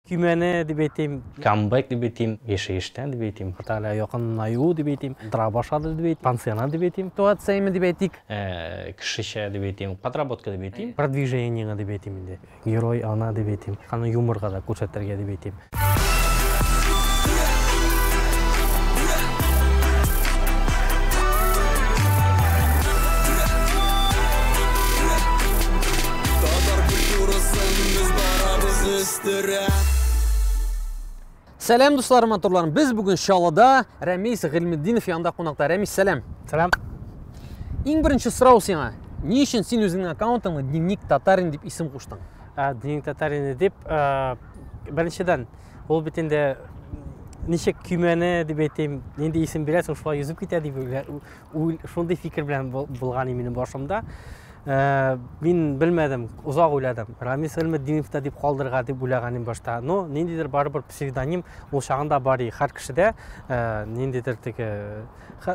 Көймәне дип әйтим. Камбэк дип әйтим, яшәештән дип әйтим, хәтта әле якынлаю дип әйтим, тора башлады дип әйтим, пансионат дип әйтим. Ситуацияме дип әйтик. Ә, кешечә дип әйтим, подработка дип әйтим. Продвижениеңә дип әйтим инде. Герой ана дип әйтим. Аны юморга да күрсәтергә дип әйтим. Сәләм дусларым, матурларым. Без бүген Чаллыда Рәмис Гыйлметдинов янында кунакта. Рәмис, сәләм. Сәләм. Иң беренче сорау сиңа. Ни өчен син үзеңнең аккаунтыңны Дневник татарин дип исем куштың? Ә, Дневник татарин дип, ә, беренчедән, ул бит инде ничек көймәне дип әйтим, нинди исем бирәсең, шулай йөзеп китә дип Шундый фикер белән булган и минем башымда. Э, мин белмәдем, озак уйладым. Рамис Элмеддинов та дип калдырга дип уйлаганым башта. Но ниндидер барыбер псевдоним ул чагында бар и һәр кешедә э, ниндидер теге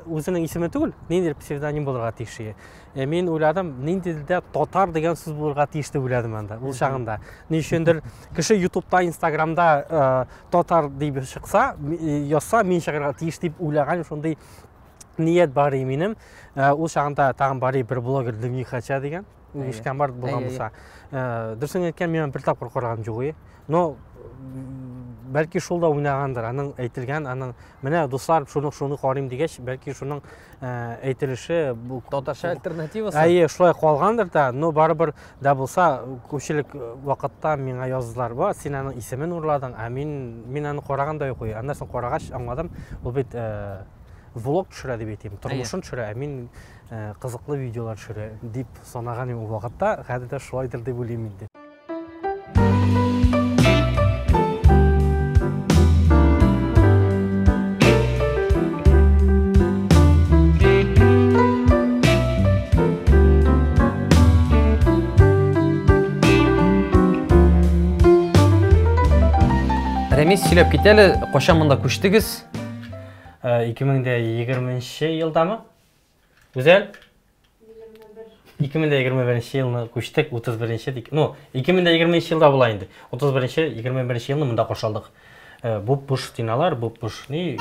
үзенең исеме түгел, ниндидер псевдоним булырга тиеш. Э, мин уйладым, ниндидер дә татар дигән сүз булырга тиеш дип уйладым анда, ул чагында. Ни өчендер кеше YouTube-та, Instagram-да татар дип чыкса, язса, мин чыгарга тиеш дип уйлаган шундый ният бар и минем э, ул чагында тагын бар и бер блогер дневник хача деген үгешкән бар булган булса э, дөресен әйткән мин бер тапкыр караган юк но бәлки шул да уйнагандыр аның әйтелгән аның менә дуслар шуны шуны карыйм дигәч бәлки шуның э, әйтелеше бу татарча альтернативасы әйе шулай калгандыр да но барыбер да булса күпчелек вакытта миңа яздылар ба син аның исемен урладың ә мин мин аны караган да юк аннан соң карагач аңладым ул бит влог төшерә дип әйтим тормышын төшерә ә мин э, кызыклы видеолар төшерә дип санаган идем ул вакытта хәзер дә шулайдыр дип уйлыйм инде Рәмис сөйләп кит әле, кайчан монда күчтегез? 2020 нче елдамы? Гүзәл? 2021 нче елны күчтек, 31 нче дик. Ну, 2020 нче елда була инде. 31 нче, 21 нче елны монда каршы алдык. Э, бу буш стеналар, бу буш ни,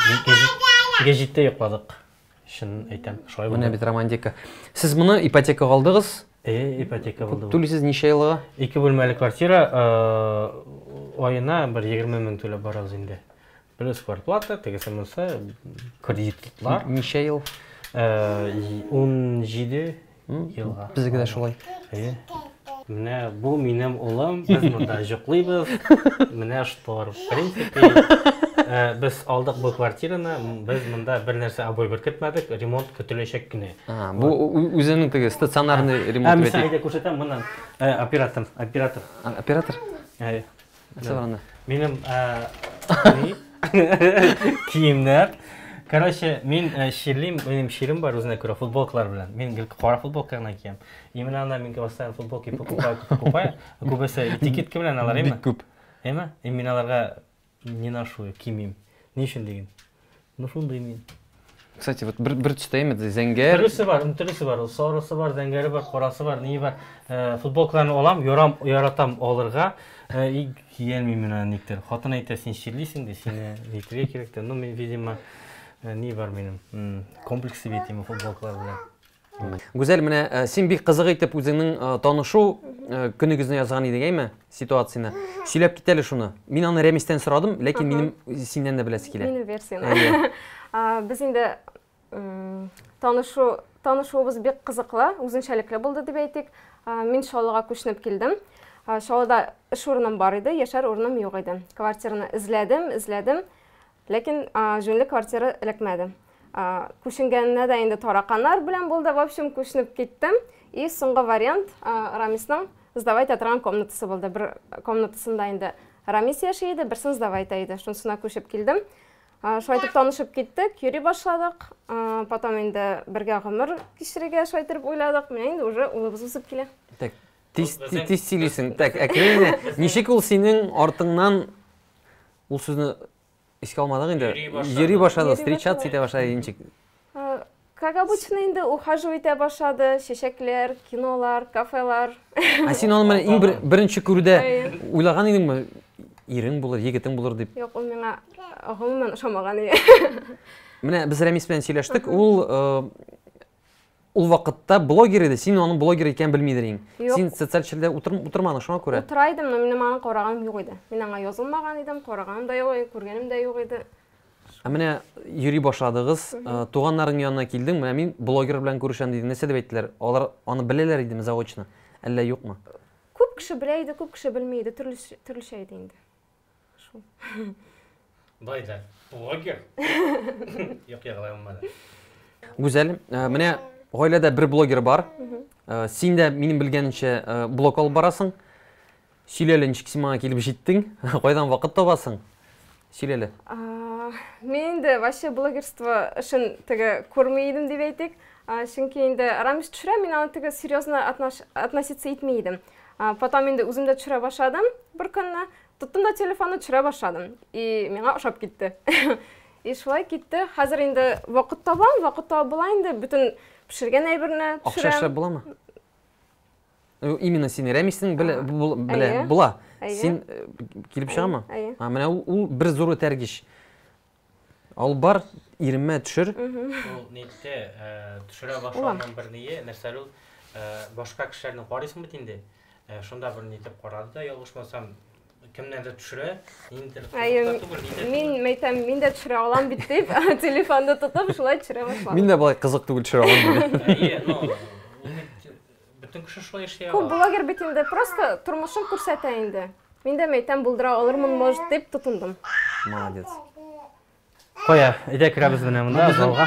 гәҗиттә йокладык. Шын әйтәм, шулай булды. Менә бит романтика. Сез моны ипотека алдыгыз? Э, ипотека булды. Түлисез ничә елга? Ике бүлмәле квартира, э, айына бер 20 мең түләп барабыз инде. Плюс квартплата, тегесе монысы, кредитлар. Ничә ел? 17 елга. Безгә дә шулай. Әйе. Менә бу минем улым, без монда җоклыйбыз. Менә штор. В принципе, э, без алдык бу квартираны, без монда бер нәрсә обой беркетмәдек, ремонт көтеләчәк кенә. А, бу үзенең теге стационарный ремонт бит. Ә мисалга күрсәтәм, моннан э, оператор, оператор. Оператор? Әйе. Сабраны. Минем киемнәр. Короче, мин чирлим, минем чирим бар үзенә күрә футболкалар белән. Мин гел кара футболка гына киям. Именно ана мин постоянно футболки покупаю, покупаю. Күбесе этикетка белән алар, әйме? Бик күп. Әйме? Мин аларга не ношу, кимим. Ни өчен диген? Ну шундый мин. Кстати, вот бер, бер төстә имет, зәңгәр. Төрлесе бар, төрлесе бар. Ул сарысы бар, зәңгәре бар, карасы бар, ни бар. Э, футболкаларны алам, ярам, яратам алырга. Э, и киелмим менә никтер. Хатын әйтә, син чирлисең ди, сине әйтергә кирәк тә. Ну, мин, видимо, э, ни бар минем? Комплексы бит именно футболкалар белән. Гүзәл, менә э, син бик кызык итеп үзеңнең э, танышу э, көнегезне язган идең, әйме? Ситуацияне. Сөйләп кит әле шуны. Мин аны Рәмистән сорадым, ләкин минем синнән дә беләсе килә. Минем версияне. Без инде танышу танышуыбыз бик кызыклы, үзенчәлекле булды дип әйтик. Мин Шалыга күченеп килдем. Шалыда эш урыным бар иде, яшәр урыным юк иде. Квартираны эзләдем, эзләдем. Ләкин җүнле квартира эләкмәде. Күченгәненә дә инде тараканнар белән булды. В общем, күченеп киттем. И соңгы вариант Рамисның сдавай итә торган комнатасы булды. Бер комнатасында инде Рамис яши иде, берсен сдавай итә иде. Шунысына күчеп килдем. Шулай итеп танышып киттек, йөри башладык. Потом инде бергә гомер кичерергә шулай итеп уйладык. Менә инде уже улыбыз үсеп килә. Так, тиз тиз сөйлисең. Так, әкрен генә. Ничек ул синең артыңнан Ул сүзне искә алмадык инде. Йөри башлады, встречаться итә башлады ничек? Как обычно инде ухаживать итә башлады, чәчәкләр, кинолар, кафелар. Ә син аны менә иң беренче күрүдә уйлаган идеңме? Ирең булыр, егетең булыр дип. Юк, ул миңа гомумән ошамаган иде. Менә без Рәмис белән сөйләштек, ул Ул вакытта блогер иде, син аның блогер икәнен белмидер идең. Син социаль челдә утырмадың шуңа күрә. Утыра идем, но минем аны караганым юк иде. Мин аңа язылмаган идем, караганым да юк иде, күргәнем дә юк иде. Ә менә йөри башладыгыз, э, туганнарың янына килдең, менә мин блогер белән күрешәм диде. Нәрсә дип әйттеләр? Алар аны беләләр идеме заочно? Әллә юкмы? Күп кеше белә иде, күп кеше белми иде, төрлечә иде инде. Шул. Бай да. Блогер. Юк, ягалай алмады. Гүзәл, э, менә гаиләдә бер блогер бар. Э, син дә минем белгәнемчә э, блог алып барасың. Сөйләле, ничек син моңа килеп җиттең? Кайдан вакыт табасың? Сөйләле. Мин инде вообще блогерство эшен теге күрми идем дип әйтик. Чөнки инде Рамис төшерә, мин аны теге серьезно относиться итми идем. Потом инде үзем дә төшерә башладым бер көнне. Тоттым да телефонны төшерә башладым. И миңа ошап китте. И шулай китте. Хәзер инде вакыт табам, вакыт табып була инде. Бөтен пешергән әйберне төшерәм. Акча эшләп буламы? Э, именно син рәмисең белә белә була. Син э, килеп чыгамы? Әйе. Менә ул бер зур этәргеч. Алып бар, иремә төшер. Ул нитте, төшерә башлауның бер ние, нәрсәле ул, башка кешеләрне карыйсың бит инде. Шунда бер нитеп карады да, ялгышмасам, кемнәрдер төшерә, ниндидер кызыклы түгел, нидер түгел. Мин мәйтәм, мин дә төшерә алам бит дип, телефонны тотып, шулай төшерә башладым. Мин дә болай кызык түгел төшерә алам дип. Әйе, ну, Бөтен кеше шулай эшли ала. Күп блогер бит инде просто тормышын күрсәтә инде. Мин дә мәйтәм булдыра алырмын, может, дип тотындым. Молодец. Кая, әйдә керәбез менә монда залга.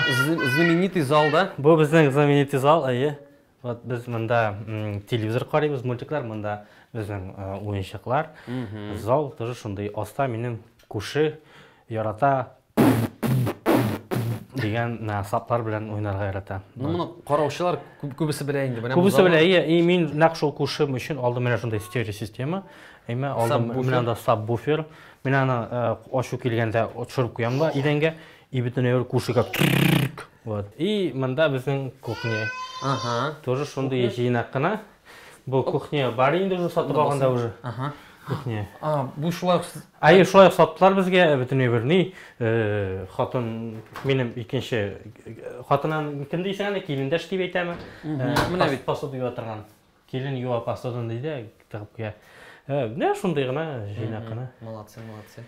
Знаменитый зал да. Бу безнең знаменитый зал, әйе. Вот без монда телевизор карыйбыз, мультиклар, монда безнең э, уенчыклар. Зал тоже шундый. Аста минем күрше ярата дигән менә саплар белән уйнарга ярата. Ну моны караучылар күбесе белә инде. Менә күбесе белә. И мин нәкъ шул күршем өчен алдым менә шундый стерео система. Әмма алдым менә анда сабвуфер. Мин аны э, ачу килгәндә төшереп куям да идәнгә и бөтен әйбер күршегә. Вот. И монда безнең кухня. Ага. Тоже шундый җыйнак кына. Бу кухня бар инде уже сатып алганда уже. Ага. Кухня. А, бу шулай. Ай, шулай саттылар безгә бөтенләй бер ни. Э, хатын минем икенче хатынын кем дисең аны килендәш дип әйтәме? Э, менә бит посуда юа торган. Килен юа посудан ди дә тыгып куя. Э, менә шундый гына җыйнак кына. Молодцы, молодцы.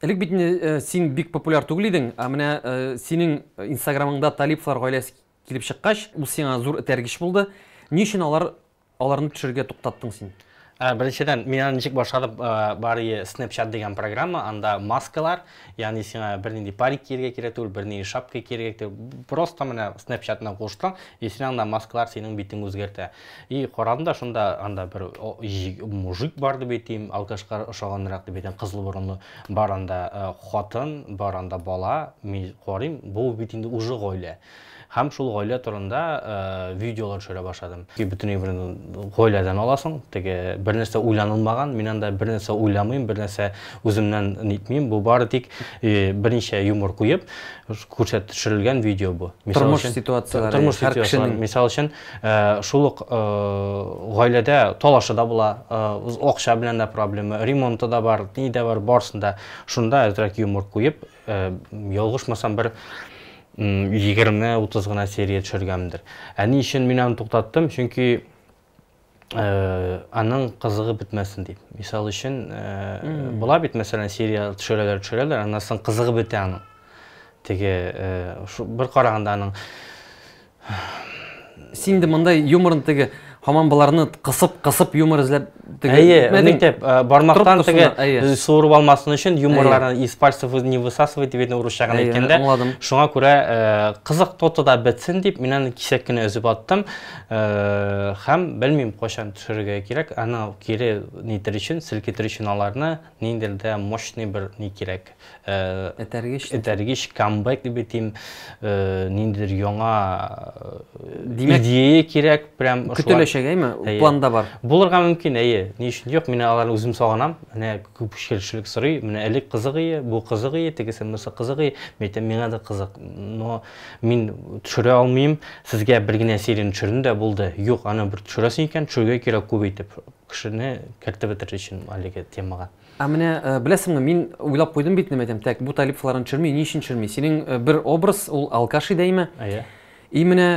Элек бит син бик популяр түгел идең, ә менә синең инстаграмыңда Талиповлар гаиләсе Килеп чыккач, ул сиңа зур этәргеч булды. Ни өчен алар аларны төшерергә туктаттың син? Ә, Беренчедән, мин аны ничек башладым, ә, бар ие Snapchat дигән программа, анда маскалар, ягъни сиңа бернинди парик киергә кирәк түгел, бернинди шапка киергә кирәк түгел. Просто менә Snapchat белән кушсаң, и сине анда маскалар синең битеңне үзгәртә. И карадым да, шунда анда бер о, җи- мужик бар дип әйтим, алкашка ошаганрак дип әйтәм, кызыл борынлы. Бар анда хатын, бар анда бала, мин карыйм, бу бит инде уже гаилә. Һәм шул гаилә турында видеолар төшерә башладым. Бөтенләй бер гаиләдән аласың, теге бернәрсә уйланылмаган, мин анда бернәрсә уйламыйм, бернәрсә үземнән нитмим, бу бары тик берничә юмор куеп күрсәт төшерелгән видео бу. Тормыш ситуацияләре, һәр кешенең. Мисал өчен. Шул ук гаиләдә талашы да була, акча белән дә проблема, ремонты да бар, ни дә бар, барысын да. Шунда әзрәк юмор куеп, ялгышмасам бер 20-30 гына серия төшергәмдер. Ә ни өчен мин аны туктаттым? Чөнки аның кызыгы бетмәсен дип. Мисал өчен, була бит, мәсәлән, серия төшерәләр, төшерәләр, аннан соң кызыгы бетә аның. Теге бер караганда аның Син инде монда юморны теге һаман боларны кысып кысып юмор эзләп теге Әйе, әйтмәдең. итеп, э, бармактан Трубкасына, теге әйе. э, суырып алмасын өчен юморларны из пальцев вы- не высасывай дип инде урысча гына Әйе, әйткәндә. аңладым. Шуңа күрә э, кызык тотыда бетсен дип мин аны кисәк кенә өзеп аттым. Э, Һәм белмим кайчан төшерергә кирәк. Аны кире нитер өчен, селкетер өчен аларны Ниндер дә мощный бер ни кирәк. Этәргеч. Этәргеч, камбэк дип әйтим. Ниндидер яңа идея кирәк. Прям шулай. Көтеләчәк, әйме? Планда бар. Булырга мөмкин, әйе. Ни өчен юк? Мин аларны үзем сагынам. Менә күп кешелек сорый. Менә элек кызык ие, бу кызык ие, тегесе монысы кызык ие. Мин әйтәм, миңа да кызык. Но мин төшерә алмыйм. Сезгә бер генә серияне төшердем дә, булды. Юк, аны бер төшерәсең икән, төшерергә кирәк күп итеп. кешене кертеп бетерер өчен әлеге темага. Ә менә беләсеңме, мин уйлап куйдым бит нәмәдәм, так, бу Талип фларын төшерми, ни өчен төшерми? Синең бер образ, ул алкаш иде әйме? Әйе. И менә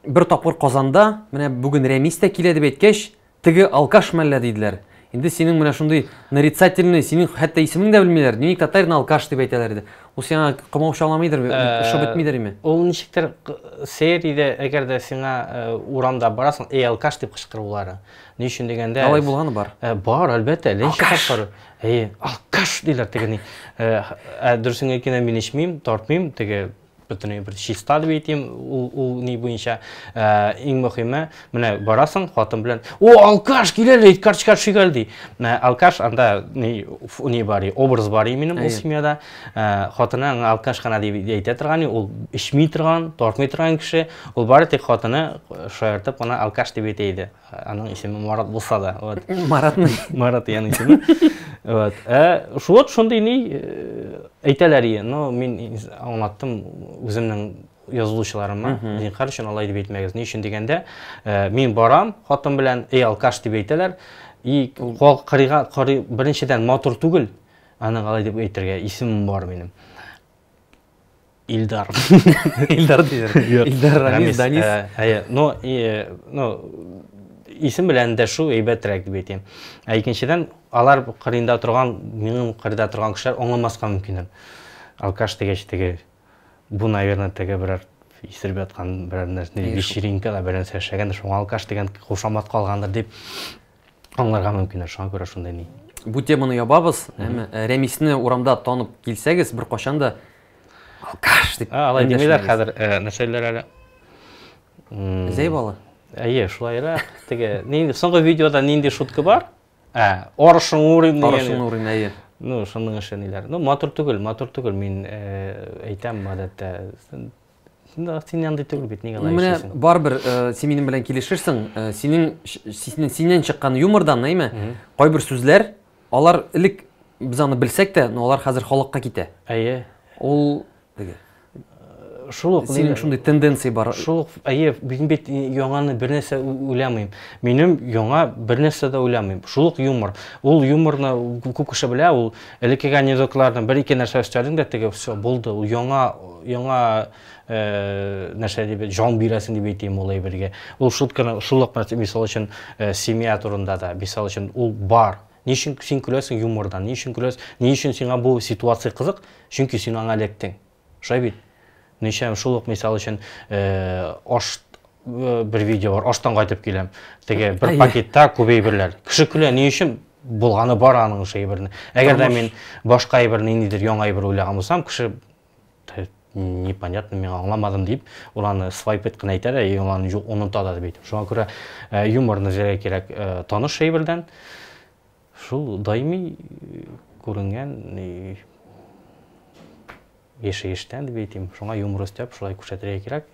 бер тапкыр Казанда, менә бүген Рәмис тә килә дип әйткәч, теге алкаш мәллә диделәр. Инде синең менә шундый нарицательный, синең хәтта исемең дә белмиләр. Дневник татарин алкаш дип әйтәләр иде. Ул сиңа комаучаламыйдыр, э, шып бетмидер име? Ул ничектер сериядә, әгәр дә сиңа э, урамда барасың, эй, алкаш дип кычкырулары. Ни өчен дигәндә... Алай булганы бар? Э, бар, әлбәттә, ләйшә тапкыр. Эй, алкаш диләр тегени. Ә дөресен әйткәндә мин эчмим, тартмыйм, теге бөтенләй бер чиста дип әйтим, ул, ул ни буенча, иң мөхиме, Менә барасың хатын белән, "О, алкаш, кил әле, карточка төшик әле" ди. Менә алкаш анда ни ни бар, образ бар минем ул семьяда. Э, хатыны аңа алкаш кына дип әйтә торган, ул эчми торган, тартмый торган кеше. Ул бары тик хатыны э, шаяртып кына алкаш дип әйтә иде. Аның исеме Марат булса да. Вот. Маратны. Марат яны исеме. Вот. Э, вот шундый ни э, әйтәләр ие. Но мин аңлаттым үземнең язылучыларыма зинхар өчен алай дип әйтмәгез ни өчен дигәндә мин барам хатын белән эй алкаш дип әйтәләр и кол кырыйга карый беренчедән матур түгел аның алай дип әйтергә исемем бар минем Ильдар. Ильдар диләр. Ильдар Рамис, Данис. Әйе, но но исем белән дә шул әйбәтрәк дип әйтәм. Ә икенчедән, алар кырында торган, минем кырда торган кешеләр аңламаска мөмкин. Алкаш дигәч теге Бу, наверное, теге берәр исереп яткан берәр нәрсә, вечеринка да берәр нәрсә эшләгәндер, шуңа алкаш дигән кушамат калгандыр дип аңларга мөмкин, шуңа күрә шундай ни. Бу теманы ябабыз, әмма э, Рәмисне урамда танып килсәгез, бер кашан да алкаш дип. А, алай димиләр хәзер, э, нәрсәләр әле? Зәйбалы. Әйе, шулайрак. Теге, нинди соңгы видеода нинди шутка бар? Ә, арышың урыйм дигән. Арышың урыйм, әйе. Ну, шуның эше ниләр. Ну, матур түгел, матур түгел. Мин әйтәм, гадәттә, син андый түгел бит, нигә алай эшлисең? Менә барыбер син минем белән килешерсең, синең синнән чыккан юмордан, әйме? Кайбер сүзләр, алар элек без аны белсәк тә, но алар хәзер халыкка китә. Әйе. Ул теге шул ук синең шундый тенденция бар шул ук әйе мин бит яңаны бернәрсә уйламыйм минем яңа бернәрсә дә уйламыйм шул ук юмор ул юморны күп кеше белә ул элеккеге анекдотларны бер ике нәрсә өстәдең дә теге все булды ул яңа яңа э, нәрсә дип җан бирәсең дип әйтим ул әйбергә ул шутканы шул ук мисал өчен э, семья турында да мисал өчен ул бар Ни өчен син көләсең юмордан? Ни өчен көләс? Ни өчен сиңа бу ситуация кызык? Чөнки син аңа эләктең. Шулай бит? Ничә шул ук мисал өчен, аш бер видео бар, аштан кайтып киләм. Теге бер Әйе. пакетта күп әйберләр. Кеше көлә, ни өчен? Булганы бар аның шул әйберне. Әгәр дә мин башка әйберне ниндидер яңа әйбер уйлаган булсам, кеше непонятно мен аңламадым дип ул аны свайп ит кына әйтә дә и ул аны оныта да бит шуңа күрә э, юмор нәзәргә кирәк э, таныш әйбердән шул даими э, күренгән яшәештән дип әйтим шуңа юмор өстәп шулай күрсәтергә кирәк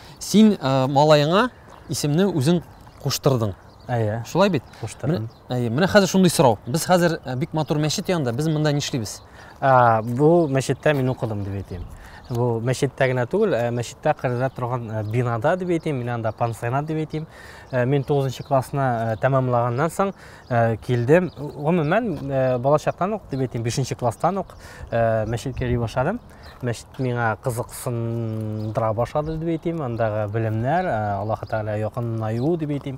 Син э, малаеңа исемне үзең куштырдың. Әйе. Шулай бит? Куштырдым. Әйе. Менә хәзер шундый сорау. Без хәзер э, бик матур мәчет янында, без монда нишлибез? Ә, бу мәчеттә мин укыдым дип әйтәм. Бу мәчеттә генә түгел, ә мәчеттә кырда торган э, бинада дип әйтәм, мин анда пансионат дип әйтәм. Э, мин 9 нчы классны э, тәмамлаганнан соң э, килдем. Гомумән, э, балачактан ук дип әйтәм, 5 нчы класстан ук э, мәчеткә йөри башладым. мәчет миңа кызыксындыра башлады дип әйтим, андагы белемнәр, Аллаһы Тәгалә якынлаю дип әйтим.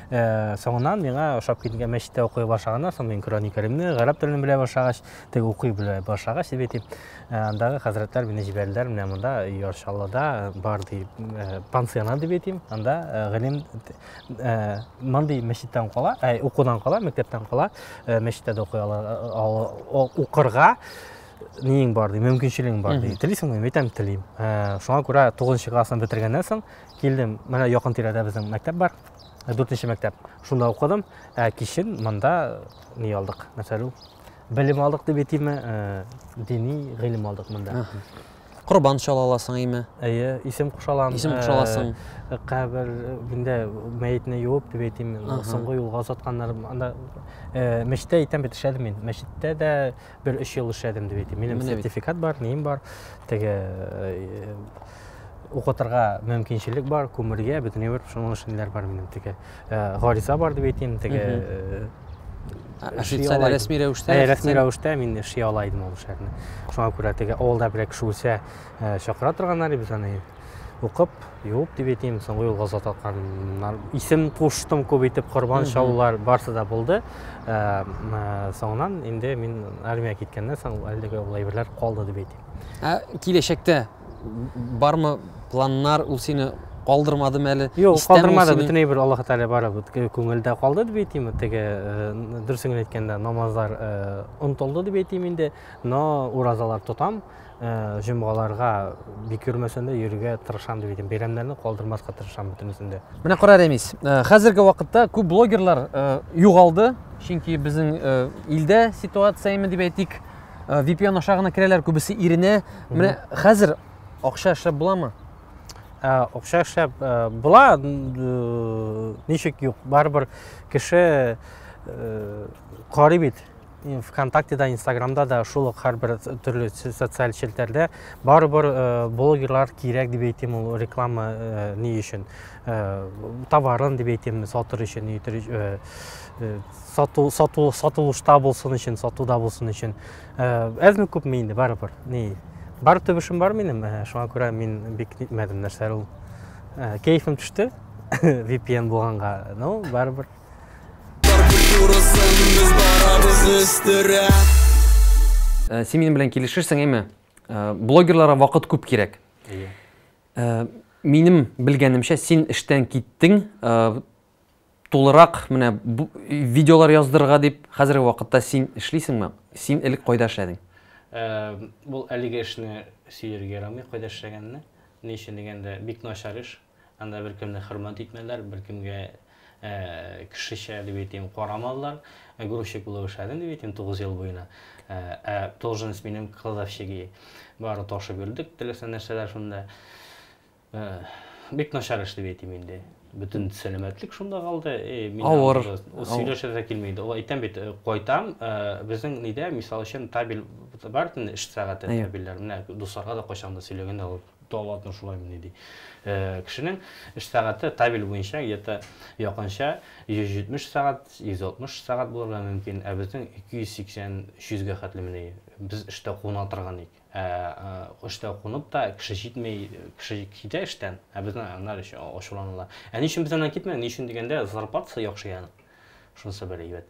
Соңыннан миңа ошап киткән мәчеттә укый башлаганнан соң мин Коръәни Кәримне, гарәп телен белә башлагач, теге укый белә башлагач дип әйтим. Андагы хәзрәтләр мине җибәрделәр, менә монда Яршаллыда бар ди, пансионат дип әйтим. Анда гыйлем мондый мәчеттән кала, укудан кала, мәктәптән кала, мәчеттә дә укый ала, укырга Ниең бар, ди, мөмкинчелегең бар, ди. Телисеңме? Мин әйтәм, телим. Ә, Шуңа күрә 9 классны бетергәннән соң килдем. Менә якын тирәдә безнең мәктәп бар. 4 мәктәп. Шунда укыдым. Ә кичен монда ни алдык? Нәрсәле ул? Белем алдык дип әйтимме? Ә, Дини гыйлем алдык монда. Корбан чала аласың име? Әйе, исем куша алам. Исем куша аласың. Ә, Кабер миндә мәетне юып дип әйтимме? Соңгы юлга озатканнар. Анда ә, мәчеттә әйтәм бит эшләдем мин. Мәчеттә дә Бер өч ел эшләдем дип әйтим. Минем сертификат бар, ним бар. Теге э, укытырга мөмкинчелек бар, күмергә, бөтен бер шуның эшеннәр бар минем теге. Э, гариза бар дип әйтим, теге э, официаль рәсми рәвештә ә, рәсми рәвештә мин эшли ала идем ул эшләрне шуңа күрә теге авылда берәр кеше үлсә чакыра торганнар иде аны укып Юк, дип әйтим, соңгы юлга зат атканнар. Исем куштым күп итеп, корбан чалулар барсы да булды. Ә, ә, соңыннан инде мин армия киткәннән соң әлеге ул әйберләр калды дип әйтим. Ә киләчәктә бармы планнар ул сине калдырмадымы әле? Юк, Истәме ул калдырмады, сине? бөтенләй бер Аллаһ Тәгалә бары бит күңелдә калды дип әйтим. Теге э, дөресен генә әйткәндә, намазлар э, онытылды дип әйтим инде, но уразалар тотам. Э, җомгаларга бик йөрмәсәм дә йөрергә тырышам дип әйтәм бәйрәмнәрне калдырмаска тырышам бөтенесен дә менә кара рәмис э, хәзерге вакытта күп блогерлар э, югалды чөнки безнең илдә ситуация именно дип әйтик vpn аша гына керәләр күбесе иренә менә хәзер акча эшләп буламы акча эшләп була ничек юк барыбер кеше карый бит ВКонтактеда, Инстаграмда да шул ук һәрбер төрле социаль челтәрдә барыбер э, блогерлар кирәк дип әйтим ул реклама э, ни өчен э, товарын дип әйтим сатыр өчен сату сату сатылышта булсын өчен сатуда булсын өчен әзме күпме инде барыбер ни бар төбешем бар минем шуңа күрә мин бик нитмәдем нәрсә ул кәефем төште VPN булганга ну барыбер Э, син минем белән килешерсең әйме э, блогерларга вакыт күп кирәк э, минем белгәнемчә син эштән киттең тулырак менә видеолар яздырырга дип хәзерге вакытта син эшлисеңме син элек кайда эшләдең бул әлеге эшне сөяргә ярамый кайда эшләгәнне ни өчен дигәндә бик начар эш Анда беркемне хөрмәт итмәләр, беркемгә кешечә дип әйтим, карамадылар. Грузчик булып эшләдем дип әйтим 9 ел буена. Ә должность минем кладовщиги. Бары ташып йөрдек, теләсә нәрсәләр шунда. Бик начар эш дип әйтим инде бөтен сәламәтлек шунда калды э, мин авыр сөйләшә дә килми иде ул әйтәм бит э, кайтам э, безнең нидә мисал өчен табель бар эш сәгате табельләр менә дусларга да кайчан да сөйләгәндә ул Талантым шулаймыни, ди. Кешенең эш сәгате табель буенча где-то якынча 170 сәгать, 160 сәгать булырга мөмкин, ә безнең 280-300 гә хәтлемени. Без эштә куна торган ик. Ә эштә кунып та кеше җитми, кеше китә эштән, ә безне аннар өчен ачуланалар. Ә ни өчен без аннан китмәдек? Ни өчен дигәндә, зарплатасы яхшы янең. Шунысы бер әйбәт.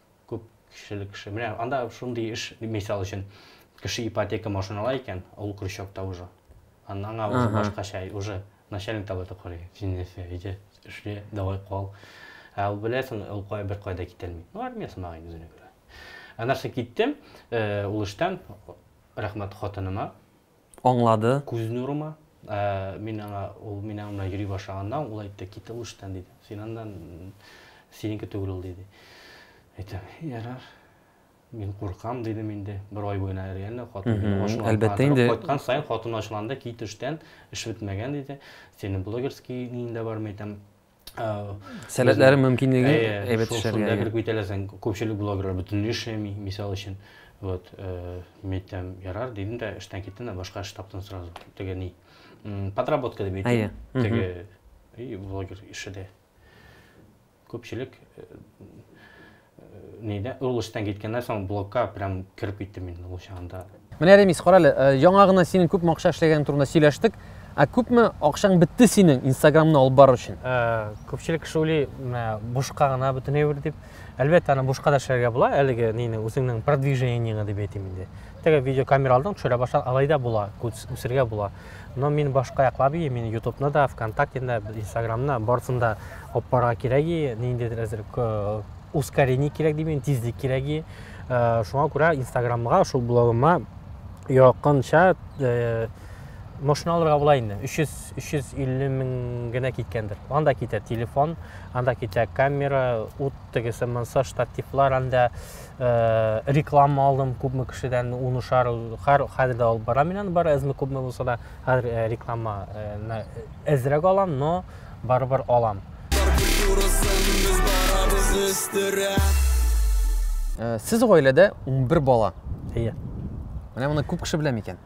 Күп кешеле кеше. Менә анда шундый эш, мисал өчен, кеше ипотека машина ала икән, ул крючокта уже. Аннан аңа уже башкача, уже начальник таба да карый. Син нәрсә, әйдә, эшле, давай кал. Ә ул беләсең, ул кая бер кая да китәлми. Ну, армия сымагы үзенә күрә. Ә нәрсә киттем, э, ул эштән, рәхмәт хатыныма, аңлады. Күз нурыма. Ә мин аңа, ул мин аның белән йөри башлаганда, ул әйтте, Кител уч тән, диде. Син аннан, синеке түгел ул, диде. Әйтәм, Ярар. Мин куркам, дидем инде. Бер ай буена реально хатын мине ачуланып, кайткан саен хатын ачуланды, Кит эштән, эш бетмәгән, диде. Синең блогерский ниең дә бармы, әйтәм. сәләтләре мөмкинлеге әйбәт эшләргә шул кереп китәләр соң күпчелек блогерлар бөтенләй эшләми мисал өчен вот митәм ярар дидем дә эштән киттем дә башка эш таптым сразу теге ни подработка дип әйтә теге блогер эше дә күпчелек Нидә? Ул эштән киткәннән соң блокка прям кереп киттем инде ул чагында. Менә Ремис, карале, э, яңа гына синең күп акча эшләгәнең турында сөйләштек. Ә күпме акчаң бетте синең Инстаграмны алып бару өчен? Э, күпчелек кеше уйлый, бушка гына бөтен әйбер дип. Әлбәттә, аны бушка да эшләргә була, әлеге нине үзеңнең продвижениеңне дип әйтим инде. Теге видеокамера алдың, төшерә башласаң, алай да була, үсергә була. Но мин башка яклап ии, мин ютубны да, вконтактен да, инстаграмны, барысын да аппарга кирәк ии, ниндидер әзер ускорение кирәк дим, тизлек кирәк ии. Э, шуңа күрә инстаграмга, шул блогыма якынча э, машина алырга була инде 300 350 мең генә киткәндер анда китә телефон анда китә камера ут тегесе монсы штативлар анда Э, реклама алдым күпме кешедән ун ошар хәр хәзер дә алып барам мин аны бары әзме күпме булса да хәзер э, реклама э, әзрәк алам но барыбер алам сез гаиләдә 11 бала әйе менә моны күп кеше белә микән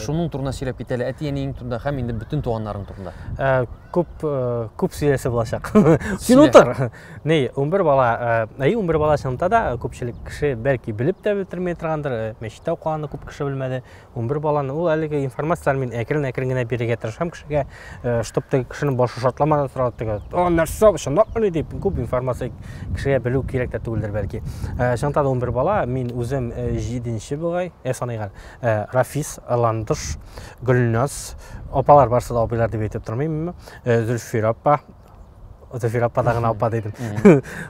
шуның турында сөйләп кит әле әти әниең турында һәм инде бөтен туганнарың турында күп күп сөйләсе булачак син утыр Ней, унбер бала, әй, унбер бала чынында да күпчелек кеше бәлки белеп тә бетермей торгандыр, мәчеттә укыганны күп кеше белмәде. Унбер баланы ул әлеге информацияләр мин әкрен-әкрен генә бирергә тырышам кешегә, чтобы теге кешенең башы шатламады торган теге, о, нәрсә, чынлапмыни дип, күп информация кешегә белү кирәк тә түгелдер бәлки. Чынында да унбер бала, мин үзем җиденче бугай, ә саныйган, Рафис, Ландыш, Гөлназ, апалар барсы да абыйлар дип әйтеп тормыйм, Зөлфир апа, Зөфир апа да гына апа дидем.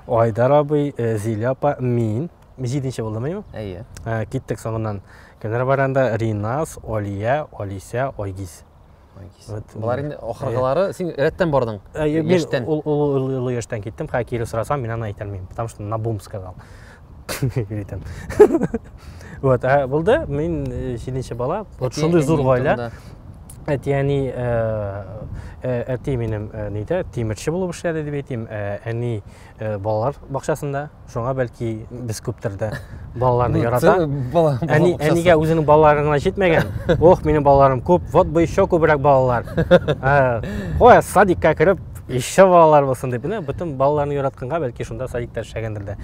Айдар абый, э, Зилә апа, мин. Җиденче булдым, әйеме? Әйе. Ә, Э, Киттек соңыннан. Кемнәр бар анда? Ринас, Олия, Олисә, Айгиз. Айгиз. Вот, Болар инде ахыргылары син рәттән бардың. Ә, Э, Мин Яшьтән. ул- ул- ул- ул яшьтән киттем, хәкире сорасам, мин аны әйтәлмим, потому что на бум сказал. Үйтем. Вот, ә булды, мин җиденче бала. Вот шундый зур гаилә. Әтияни әти минем нидә тимерче булып эшләде дип әйтим. Әни балалар бакчасында. Шуңа бәлки без күптердә балаларны ярата. Әни әнигә үзенең балалары гына җитмәгән. Ох, минем балаларым күп. Вот бы еще күбрәк балалар. Ой, садикка кереп, еще балалар булсын дип. Менә бөтен балаларны яратканга бәлки шунда садикта эшләгәндер дә.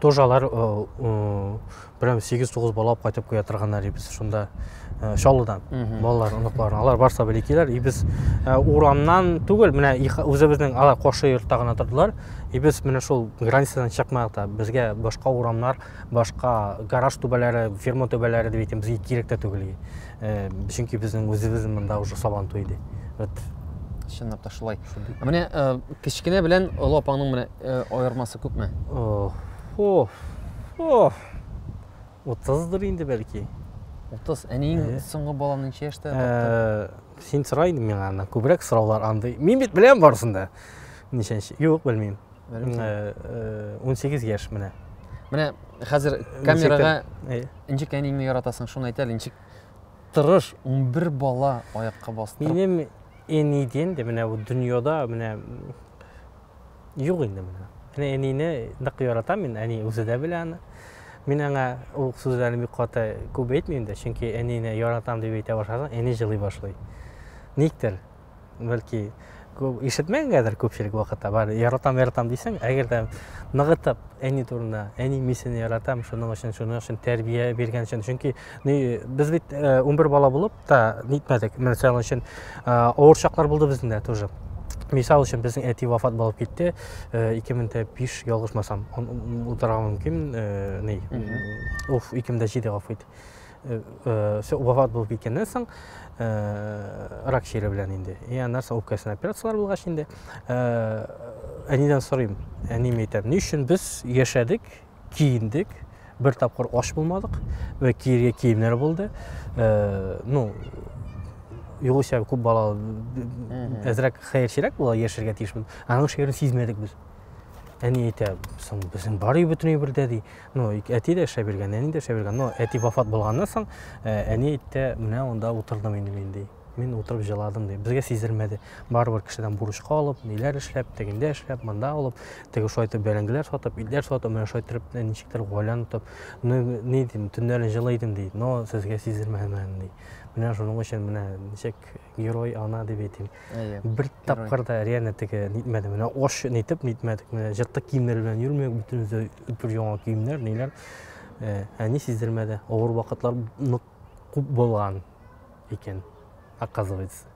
тоже алар прям сегиз тогуз бала алып кайтып куя торганнар и без шунда чаллыдан балалар оныклар алар барса белекиләр и без урамнан түгел менә үзебезнең алар кошы йортта гына тордылар и без менә шул границадан чыкмадык та безгә башка урамнар башка гараж түбәләре ферма түбәләре дип әйтәм безгә кирәк тә түгел Э, чөнки безнең үзебез монда уже сабан туй иде вот чынлап та шулай менә э, кечкенә белән олы апаңның менә э, аермасы күпме утыздыр инде бәлки утыз әниең соңгы баланы ничә яшьтә тапты син сора инде миңа аны күбрәк сораулар андый мин бит беләм барысын да ничәнче юк белмим 18 э, яшь менә. Менә хәзер камерага ничек әниеңне яратасың, шуны әйтәле, ничек тырыш 11 бала аякка бастырып. Минем әни дигән дә менә бу дөньяда менә юк инде менә. Менә әнине нык яратам мин, әни үзе дә белә аны. Мин аңа ул сүзләрне бик каты күп әйтмим дә, чөнки әнине яратам дип әйтә башласаң, әни җылый башлый. Никтер, бәлки күп ишетмәгәнгәдер күпчелек вакытта бар яратам яратам дисең әгәр дә ныгытып әни турында әни мин сине яратам шуның өчен шуның өчен тәрбия биргән өчен чөнки без бит э, унбер бала булып та нитмәдек мисал өчен э, авыр чаклар булды безнең дә тоже мисал өчен безнең әти вафат булып китте э, ике мең дә биш ялгышмасам утырга мөмкин ни уф ике мең дә җиде гафу ит Э, э, все вафат булып киткәннән соң э, рак чире белән инде и аннан соң үпкәсенә операциялар булгач инде әнидән сорыйм әним әйтәм ни өчен без яшәдек киендек бер тапкыр аш булмадык вә киергә киемнәр булды ну югыйсә күп балалы әзрәк хәерчерәк була яшәргә тиешбез аның шигырен сизмәдек без әни әйтә соң безнең бар өй бөтен әйбердә ди Ну, әти дә эшләп йөргән, әни дә эшләп йөргән. Но әти вафат булганнан соң, э, әни әйтте, менә анда утырдым инде мин, ди. Мин утырып җыладым, ди. Безгә сиздермәде. Барыбер кешедән бурычка алып, ниләр эшләп, тегендә эшләп, монда алып, теге шулай итеп бәрәңгеләр сатып, итләр сатып, менә шулай итеп э, ничектер гаиләне тотып, ну, ни дим, төннәрен җылы идем, ди. Но сезгә сиздермәдем әле, ди. Менә шуның өчен менә ничек герой ана дип әйтим бер тапкыр да реально теге нитмәде менә ош нитеп нитмәдек менә җыртык киемнәр белән йөрмәдек бөтенесе бер яңа киемнәр ниләр э, әни сиздермәде авыр вакытлар нык күп булган икән оказывается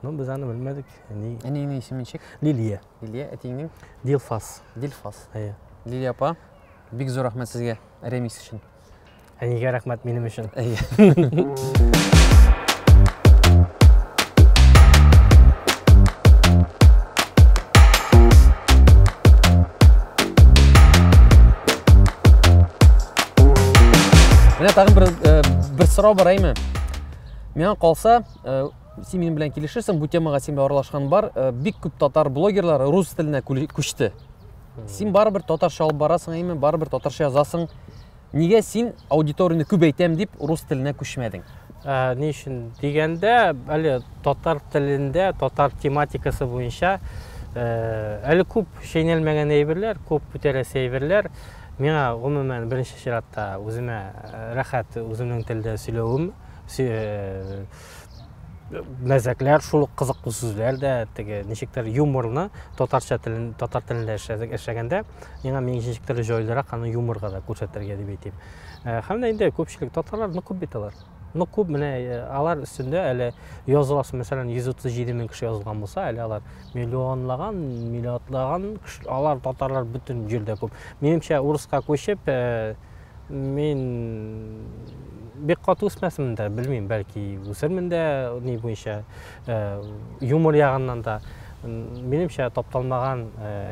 но без аны белмәдек әни әниеңнең исеме ничек лилия лилия әтиеңнең дилфас дилфас әйе лилия апа бик зур рәхмәт сезгә ремикс өчен Әнигә рәхмәт минем өчен. Менә тагын бер э, бер сорау бар әйме. Миңа калса, э, син минем белән килешерсең, бу темага син аралашкан бар. Э, бик күп татар блогерлары рус теленә күчте. Син барыбер татарча алып барасың, әйме, барыбер татарча язасың. Нигә син аудиторияне күбәйтәм дип рус теленә күчмәдең? Ә, ни өчен дигәндә, әле татар телендә, татар тематикасы буенча ә, әле күп шәйнәлмәгән әйберләр, күп бүтәрәсе әйберләр миңа гомумән беренче чиратта үземә рәхәт үземнең телдә сөйләвем, мәзәкләр шул ук кызыклы сүзләр дә теге ничектер юморны татарча телен татар телендә эшләдек эшләгәндә миңа мин ничектер җайлырак аны юморга да күрсәтергә дип әйтим э, һәм дә инде күпчелек татарлар нык күп бит алар нык күп менә э, алар өстендә әле языласы мәсәлән йөз утыз җиде мең кеше язылган булса әле алар миллионлаган миллиардлаган алар татарлар бөтен җирдә күп минемчә урыска күчеп э, Мин бик каты үсмәсем дә, белмим, бәлки үсермен дә, ни буенча, юмор ягыннан да. Минемчә, тапталмаган,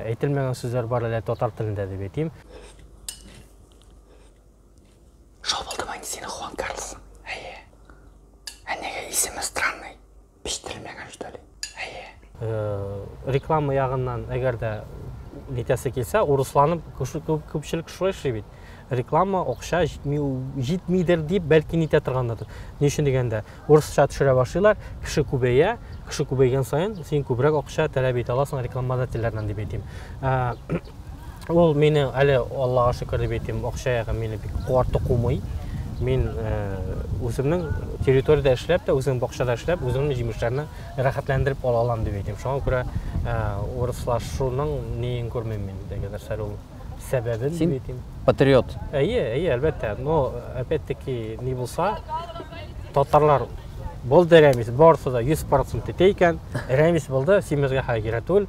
әйтелмәгән сүзләр бар әле татар телендә дип әйтим. Шул булдымы инде синең Хуан Карлосың? Әйе. Ә нигә исеме странный? Пештермәгән что ли? Әйе. Э, реклама ягыннан әгәр дә нитәсе килсә, урысланып күпчелек шулай эшли бит. Реклама акча җитми, җитмидер дип бәлки нитә торгандыр. Ни өчен дигәндә, урысча төшерә башлыйлар, кеше күбәя, кеше күбәйгән саен син күбрәк акча таләп итә аласың рекламодательләрдән дип әйтим. Э, Ул мине әле Аллага шөкер дип әйтим, акча ягы мине бик куарты кумый. Мин үземнең территориядә эшләп тә, үземнең бакчада эшләп, үземнең җимешләрне рәхәтләндереп ала алам дип әйтим. Шуңа күрә урыслашуның ниен күрмим мин дигәндер сәл ул сәбәбен дип әйтим. Патриот. Әйе, әйе, әлбәттә. Но опять-таки ни булса, татарлар Булды Рәмис, барысы да 100% итә икән. Рәмис булды, симезгә хәйгерә түгел.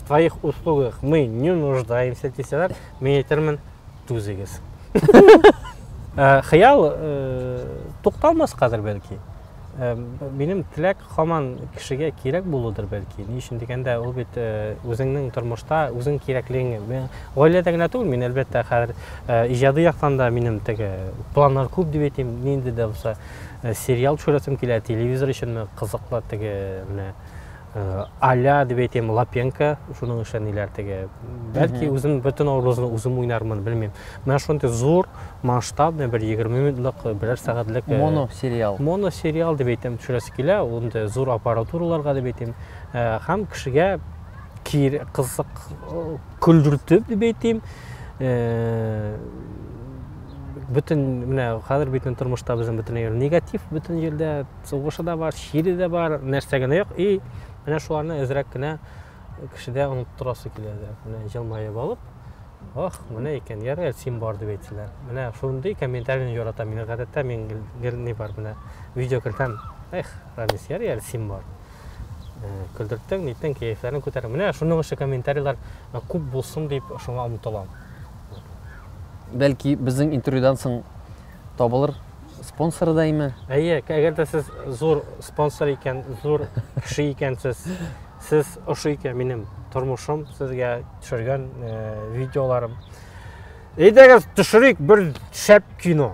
своих услугах мы не нуждаемся дисәләр, мин әйтермен, түзегез. Э, хыял э, тукталмас хәзер бәлки. Э, минем теләк хаман кешегә кирәк булудыр бәлки. Ни өчен дигәндә, ул бит үзеңнең тормышта үзең кирәклегеңне. Гаиләдә генә түгел, мин әлбәттә хәзер иҗади яктан да минем теге планнар күп дип әйтим, нинди дә булса сериал төшерәсем килә, телевизор өчен кызыклы теге менә Э, аля дип әйтәм лапенко шуның эше ниләр теге бәлки үзем бөтен образны үзем уйнармын белмим менә шундый зур масштабный бер егерме минутлык э, берәр сәгатьлек э, моносериал моносериал дип әйтәм төшерәсе килә unda зур аппаратураларга дип әйтәм һәм кешегә кир кызык көлдертеп дип әйтәм бөтен менә хәзер бөтен тормышта безнең бөтен негатив бөтен җирдә Сугышы да бар, чире дә бар, нәрсә генә юк. И, менә шуларны әзрәк кенә кешедә оныттырасы килә дә. Менә җылмаеп алып, ох, менә икән, ярый, син бар дип әйтсеннәр. Менә шундый комментарийны яратам. Мин гадәттә мин гел ни бар менә видео кертәм. Эх, Рамис, ярый, әле син бар. Э, көлдерттең, ниттең, кәефләрен күтәрдең. Менә шуның өчен комментарийлар э, күп булсын дип шуңа омтылам. Бәлки безнең интервьюдан соң табылыр Спонсоры да име? Әйе, әгәр дә сез зур спонсор икән, зур кеше икәнсез, сез ошый икән минем тормышым, сезгә төшергән э, видеоларым. Әйдәгез төшерик бер шәп кино.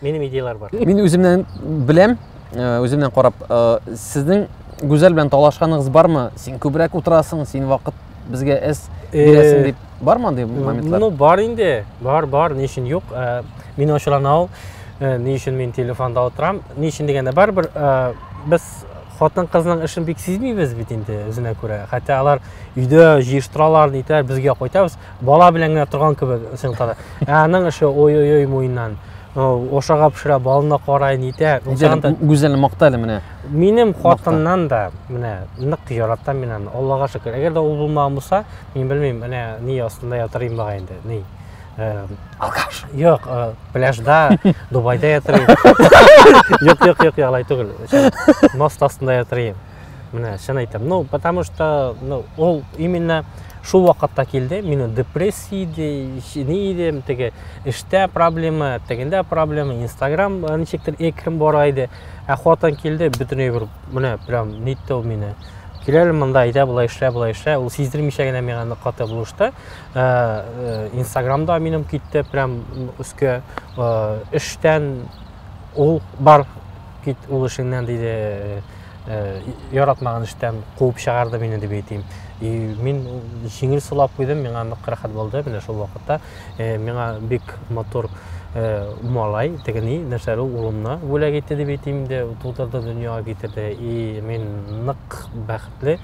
Минем идеялар бар. Мин үземнән беләм, э, үземнән карап, э, сезнең Гүзәл белән талашканыгыз бармы? Син күбрәк утырасың, син вакыт безгә эс бирәсең дип. Бар ма андый моментлар? Ну, бар инде. Бар, бар, ни өчен юк. Э, мин ачулана ул. Э, ни өчен мин телефонда утырам? Ни өчен дигәндә барыбер э, без хатын кызның эшен бик сизмибез бит инде үзенә күрә. Хәтта алар өйдә җыештыралар, нитәр, безгә кайтабыз. Бала белән генә торган кебек син кара. Ә аның эше ой-ой-ой муеннан. Ошага пешерә, балына карай, нитә. Гүзәл мактале менә. Минем хатыннан да менә нык яратам мин аны. Аллага шөкер. Әгәр дә ул булмаган булса, Мин белмим, менә ни астында ятыр идем бага инде. Ни? Алкаш. Юк, пляжда, Дубайда ятыр идем. Юк, юк, юк, ялай түгел. Мост астында ятыр идем. Менә чын әйтәм. Ну, потому что, ну, ул именно шул вакытта килде. Мине депрессия иде, ни идем, теге эштә проблема, тегендә проблема, Instagram ничектер экрем бара иде. Ә хатын килде, бөтенләй бер менә прям нитте ул мине. кил әле монда әйдә болай эшлә болай эшлә ул сиздермичә генә миңа ныклата булышты э, э, инстаграмда минем китте прям өскә э, эштән ул бар кит ул эшеңнән диде яратмаган эштән куып чыгарды мине дип әйтим и мин җиңел сулап куйдым миңа нык рәхәт булды менә шул вакытта э, миңа бик матур э, малай, тегени, нәрсәле улымны бүләк итте дип әйтим дә, тудырды, дөньяга китерде. И мин нык бәхетле.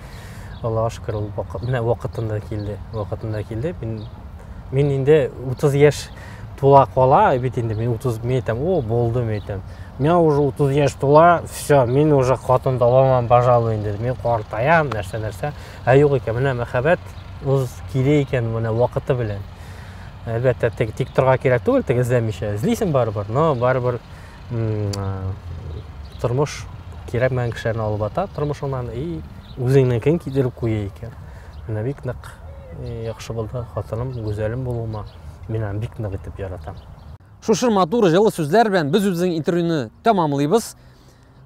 Аллаһка шөкер, ул менә вакытында килде. Вакытында килде. Мин мин инде 30 яшь тула кала, бит инде мин 30 мен әйтәм, о, булды мен әйтәм. Миңа уже 30 яшь тула, все, мин уже хатын таба алмам, пожалуй, инде. Мин картаям, нәрсә-нәрсә. Ә юк икән, менә мәхәббәт үз килә икән менә вакыты белән. Әлбәттә, тик, тик торга кирәк түгел, тик эзләмичә. Эзлисең барыбер, но барыбер тормыш кирәкмәгән кешеләрне алып ата тормышыңнан и үзеңнекин китереп куя икән. Менә бик нык яхшы булды хатыным, гүзәлем булуыма. Мин аны бик нык итеп яратам. Шушы матур җылы сүзләр белән без үзебезнең интервьюны тәмамлыйбыз.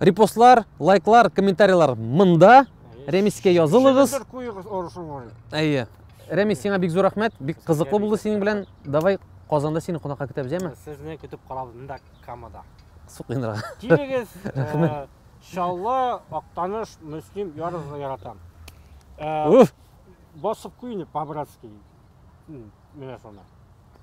Репостлар, лайклар, комментарийлар мында. Рәмискә язылыгыз. Сигнатур куегыз орышың бар. Әйе. Рәмис, сиңа бик зур рәхмәт. Бик кызыклы булды синең белән. Давай Казанда сине кунакка көтәбез, яме? Сезне көтеп калабыз монда Камада. Сукынра. Килегез. Рәхмәт. Шалла, Актаныш, Мөслим ярыгызны яратам. Уф! Басып куйны по-братски. Менә шуны.